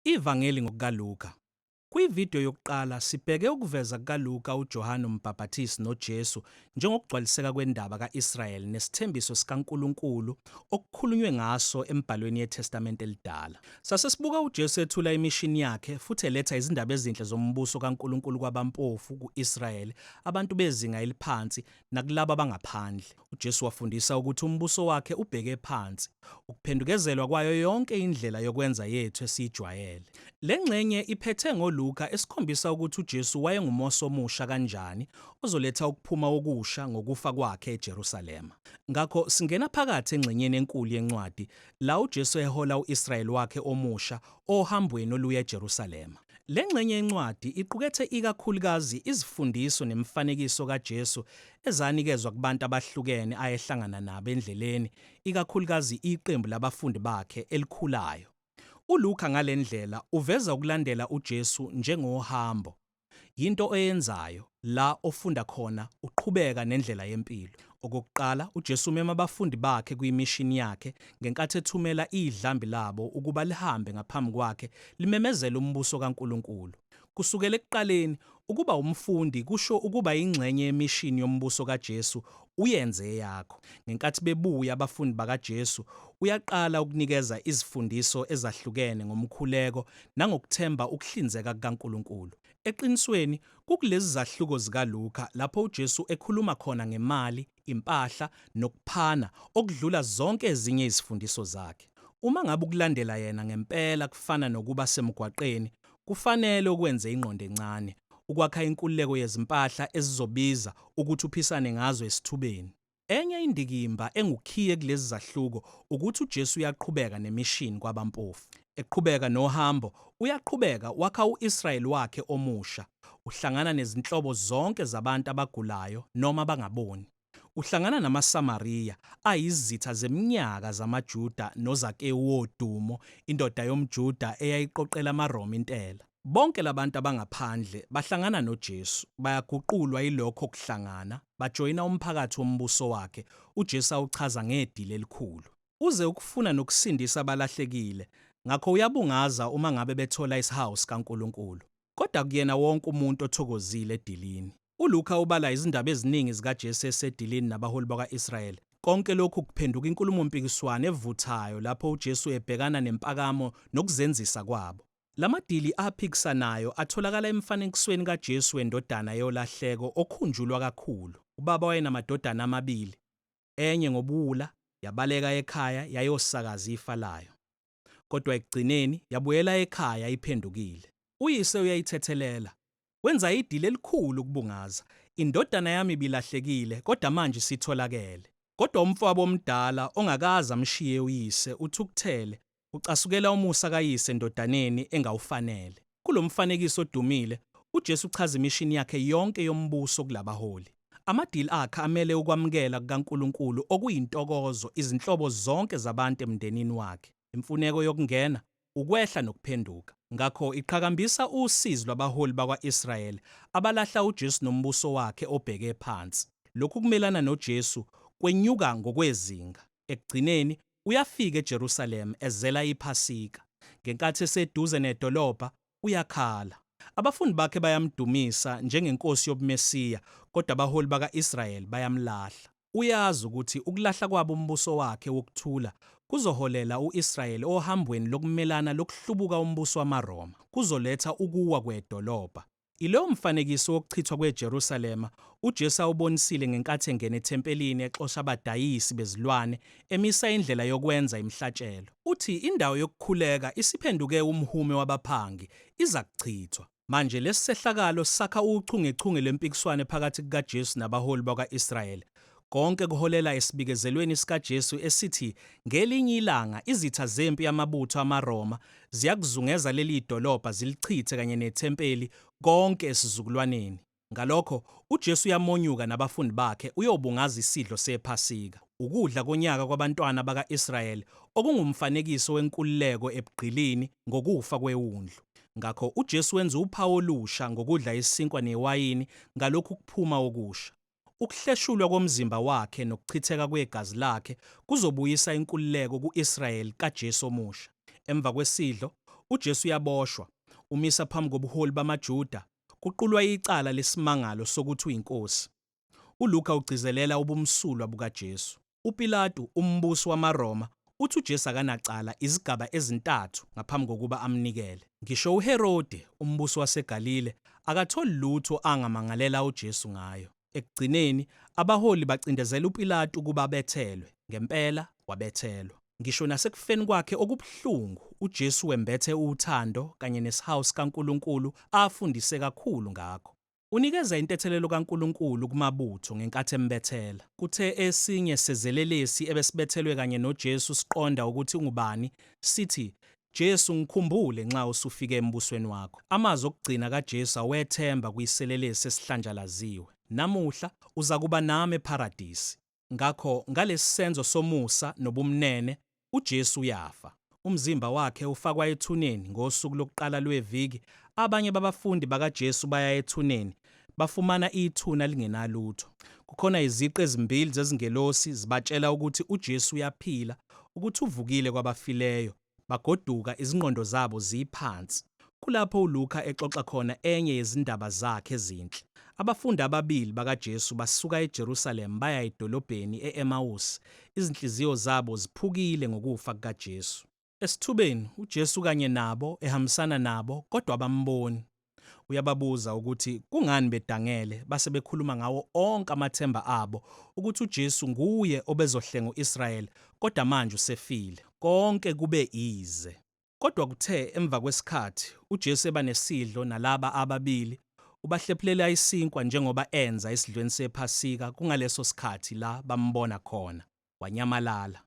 IVangeli ngokukaLuka. Kwividiyo yokuqala sibheke ukuveza kukaLuka uJohane uMbhaphathisi noJesu njengokugcwaliseka kwendaba ka-Israyeli nesithembiso sikaNkulunkulu okukhulunywe ngaso emibhalweni yeTestamente Elidala. Sase sibuka uJesu ethula imishini yakhe futhi eletha izindaba ezinhle zombuso kaNkulunkulu kwabampofu ku-Israyeli, abantu bezinga eliphansi nakulabo abangaphandle. UJesu wafundisa ukuthi umbuso wakhe ubheke phansi, ukuphendukezelwa kwayo yonke indlela yokwenza yethu esiyijwayele. Le ngxenye iphethe ngoLuka esikhombisa ukuthi uJesu wayengumosi omusha kanjani ozoletha ukuphuma okusha ngokufa kwakhe eJerusalema. Ngakho singena phakathi engxenyeni enkulu yencwadi la uJesu ehola u-Israyeli wakhe omusha ohambweni oluya eJerusalema. Le ngxenye yencwadi iqukethe ikakhulukazi izifundiso nemifanekiso kaJesu ezanikezwa kubantu abahlukene ayehlangana nabo endleleni, ikakhulukazi iqembu labafundi bakhe elikhulayo. ULuka ngale ndlela uveza ukulandela uJesu njengohambo. Yinto oyenzayo, la ofunda khona uqhubeka nendlela yempilo. Okokuqala, uJesu umema abafundi bakhe kuyimishini yakhe ngenkathi ethumela idlambi labo ukuba lihambe ngaphambi kwakhe limemezele umbuso kaNkulunkulu. Kusukela ekuqaleni, ukuba umfundi kusho ukuba ingxenye yemishini yombuso kaJesu uyenze eyakho. Ngenkathi bebuya abafundi bakaJesu, uyaqala ukunikeza izifundiso ezahlukene ngomkhuleko nangokuthemba ukuhlinzeka kukaNkulunkulu. Eqinisweni, Kukulezi zahluko zikaLuka lapho uJesu ekhuluma khona ngemali, impahla, nokuphana okudlula zonke ezinye izifundiso zakhe. Uma ngabe ukulandela yena ngempela kufana nokuba semgwaqeni, kufanele ukwenze ingqondo encane ukwakha inkululeko yezimpahla ezizobiza ukuthi uphisane ngazo esithubeni. Enye indikimba engukhiye kulezi zahluko ukuthi uJesu uyaqhubeka nemishini kwabampofu. Eqhubeka nohambo, uyaqhubeka wakha u-Israyeli wakhe omusha. Uhlangana nezinhlobo zonke zabantu abagulayo noma abangaboni. Uhlangana namaSamariya, ayizitha zeminyaka zamaJuda noZakewu wodumo, indoda yomJuda eyayiqoqela amaRoma intela. Bonke labantu abangaphandle bahlangana noJesu, bayaguqulwa yilokho kuhlangana, bajoyina umphakathi wombuso wakhe, uJesu awuchaza ngedili elikhulu. Uze ukufuna nokusindisa abalahlekile, ngakho uyabungaza uma ngabe bethola isihawu sikaNkulunkulu. Kodwa akuyena wonke umuntu othokozile edilini. ULuka ubala izindaba eziningi zikaJesu esedilini nabaholi bakwa-Israyeli. Konke lokhu kuphenduka inkulumo-mpikiswano evuthayo lapho uJesu ebhekana nempakamo nokuzenzisa kwabo. Lamadili aphikisanayo atholakala emfanekisweni kaJesu wendodana yolahleko okhunjulwa kakhulu. Ubaba wayenamadodana amabili, enye ngobuwula yabaleka ekhaya yayosakaza ifa layo. Kodwa ekugcineni yabuyela ekhaya iphendukile. Uyise uyayithethelela, wenza idili elikhulu ukubungaza. Indodana yami ibilahlekile kodwa manje isitholakele. Kodwa umfowabo omdala ongakaze amshiye uyise uthukuthele, ucasukela umusa kayise endodaneni engawufanele. Kulo mfanekiso odumile, uJesu uchaza imishini yakhe yonke yombuso kulabaholi. Amadili akhe amele ukwamukela kukaNkulunkulu okuyintokozo izinhlobo zonke zabantu emndenini wakhe. imfuneko yokungena, ukwehla nokuphenduka. Ngakho iqhakambisa usizi lwabaholi bakwa-Israyeli abalahla uJesu nombuso wakhe obheke phansi. Lokhu kumelana noJesu kwenyuka ngokwezinga. Ekugcineni, uyafika eJerusalema ezela iPhasika. Ngenkathi eseduze nedolobha, uyakhala. Abafundi bakhe bayamdumisa njengeNkosi yobuMesiya, kodwa abaholi baka-Israyeli bayamlahla. Uyazi ukuthi ukulahla kwabo umbuso wakhe wokuthula kuzoholela u-Israyeli ohambweni lokumelana lokuhlubuka umbuso wamaRoma, kuzoletha ukuwa kwedolobha. Ilowo mfanekiso wokuchithwa kweJerusalema uJesu awubonisile ngenkathi engena ethempelini exosha abadayisi bezilwane, emisa indlela yokwenza imihlatshelo. Uthi indawo yokukhuleka isiphenduke umhume wabaphangi, izakuchithwa. Manje, lesi sehlakalo sakha uchungechunge lwempikiswano phakathi kukaJesu nabaholi bakwa-Israyeli. Konke kuholela esibikezelweni sikaJesu esithi ngelinye ilanga izitha zempi yamabutho amaRoma ziyakuzungeza leli dolobha zilichithe kanye nethempeli konke esizukulwaneni. Ngalokho, uJesu uyamonyuka nabafundi bakhe uyobungaza isidlo sePhasika, ukudla konyaka kwabantwana baka-Israyeli okungumfanekiso wenkululeko ebugqilini ngokufa kweWundlu. Ngakho uJesu wenza uphawu olusha ngokudla isinkwa newayini ngalokhu kuphuma okusha. Ukuhleshulwa komzimba wakhe nokuchitheka kwegazi lakhe kuzobuyisa inkululeko ku-Israyeli kaJesu omusha. Emva kwesidlo, uJesu uyaboshwa. Umisa phambi kobuholi bamaJuda, kuqulwa icala lesimangalo sokuthi uyinkosi. ULuka ugcizelela ubumsulwa bukaJesu. UPilatu, umbusi wamaRoma, uthi uJesu akanacala izigaba ezintathu ngaphambi kokuba amnikele. Ngisho uHerode, umbusi waseGalile, akatholi lutho angamangalela uJesu ngayo. Ekugcineni, abaholi bacindezela uPilatu ukuba abethelwe. Ngempela, wabethelwa. Ngisho nasekufeni kwakhe okubuhlungu, uJesu wembethe uthando kanye nesihawu sikaNkulunkulu afundise kakhulu ngakho. Unikeza intethelelo kaNkulunkulu kumabutho ngenkathi embethela. Kuthe esinye sezelelesi ebesibethelwe kanye noJesu siqonda ukuthi ungubani, sithi, Jesu, ngikhumbule nxa usufike embusweni wakho. Amazwi okugcina kaJesu awethemba kuyiselelesi esihlanjalaziwe. Namuhla, uzakuba nami ePharadisi. Ngakho, ngalesi senzo somusa nobumnene, uJesu uyafa. Umzimba wakhe ufakwa ethuneni ngosuku lokuqala lweviki, abanye babafundi bakaJesu baya ethuneni, bafumana ithuna lingenalutho. Kukhona iziqu ezimbili zezingelosi zibatshela ukuthi uJesu uyaphila, ukuthi uvukile kwabafileyo, bagoduka izingqondo zabo ziphansi. Kulapho uLuka exoxa khona enye yezindaba zakhe ezinhle. Abafundi ababili bakaJesu basuka eJerusalema baya edolobheni e-Emawusi, izinhliziyo zabo ziphukile ngokufa kukaJesu. Esithubeni, uJesu ukanye nabo, ehambisana nabo, kodwa abamboni. Uyababuza ukuthi kungani bedangele base bekhuluma ngawo onke amathemba abo ukuthi uJesu nguye obezohlenga u-Israyeli kodwa manje usefile. Konke kube ize. Kodwa kuthe emva kwesikhathi uJesu eba nesidlo nalaba ababili, ubahlephulela isinkwa njengoba enza esidlweni sePhasika kungaleso sikhathi la bambona khona, wanyamalala.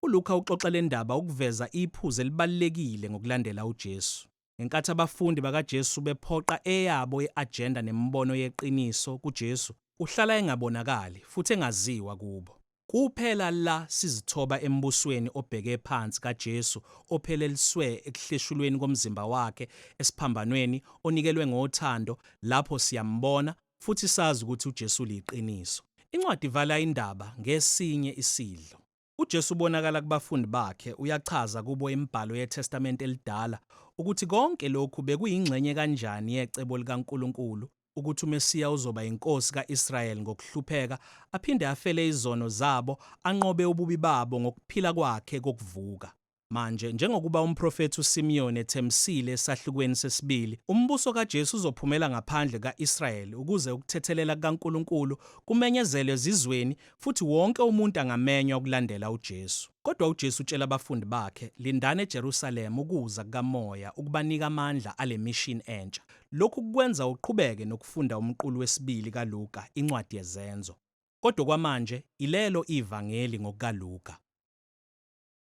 ULukha uxoxa le ndaba ukuveza iphuzu elibalulekile ngokulandela uJesu. Ngenkathi abafundi bakaJesu bephoqa eyabo i-ajenda nemibono yeqiniso kuJesu, uhlala engabonakali futhi engaziwa kubo. Kuphela la sizithoba embusweni obheke phansi kaJesu opheleliswe ekuhleshulweni komzimba wakhe esiphambanweni onikelwe ngothando lapho siyambona futhi sazi ukuthi uJesu uliqiniso. Incwadi ivala indaba ngesinye isidlo. UJesu ubonakala kubafundi bakhe, uyachaza kubo imibhalo yeTestamente eliDala ukuthi konke lokhu bekuyingxenye kanjani yecebo likaNkulunkulu ukuthi uMesiya uzoba yinkosi ka-Israyeli ngokuhlupheka, aphinde afele izono zabo, anqobe ububi babo ngokuphila kwakhe kokuvuka. Manje, njengokuba umprofethi uSimiyoni ethembisile esahlukweni sesibili, umbuso kaJesu uzophumela ngaphandle ka-Israyeli ukuze ukuthethelela kukaNkulunkulu kumenyezelwe ezizweni futhi wonke umuntu angamenywa ukulandela uJesu. Kodwa uJesu utshela abafundi bakhe, Lindani eJerusalema ukuza kukaMoya ukubanika amandla ale mishini entsha. Lokhu kukwenza uqhubeke nokufunda umqulu wesibili kaLuka, incwadi yeZenzo. Kodwa okwamanje, ilelo iVangeli ngokukaLuka.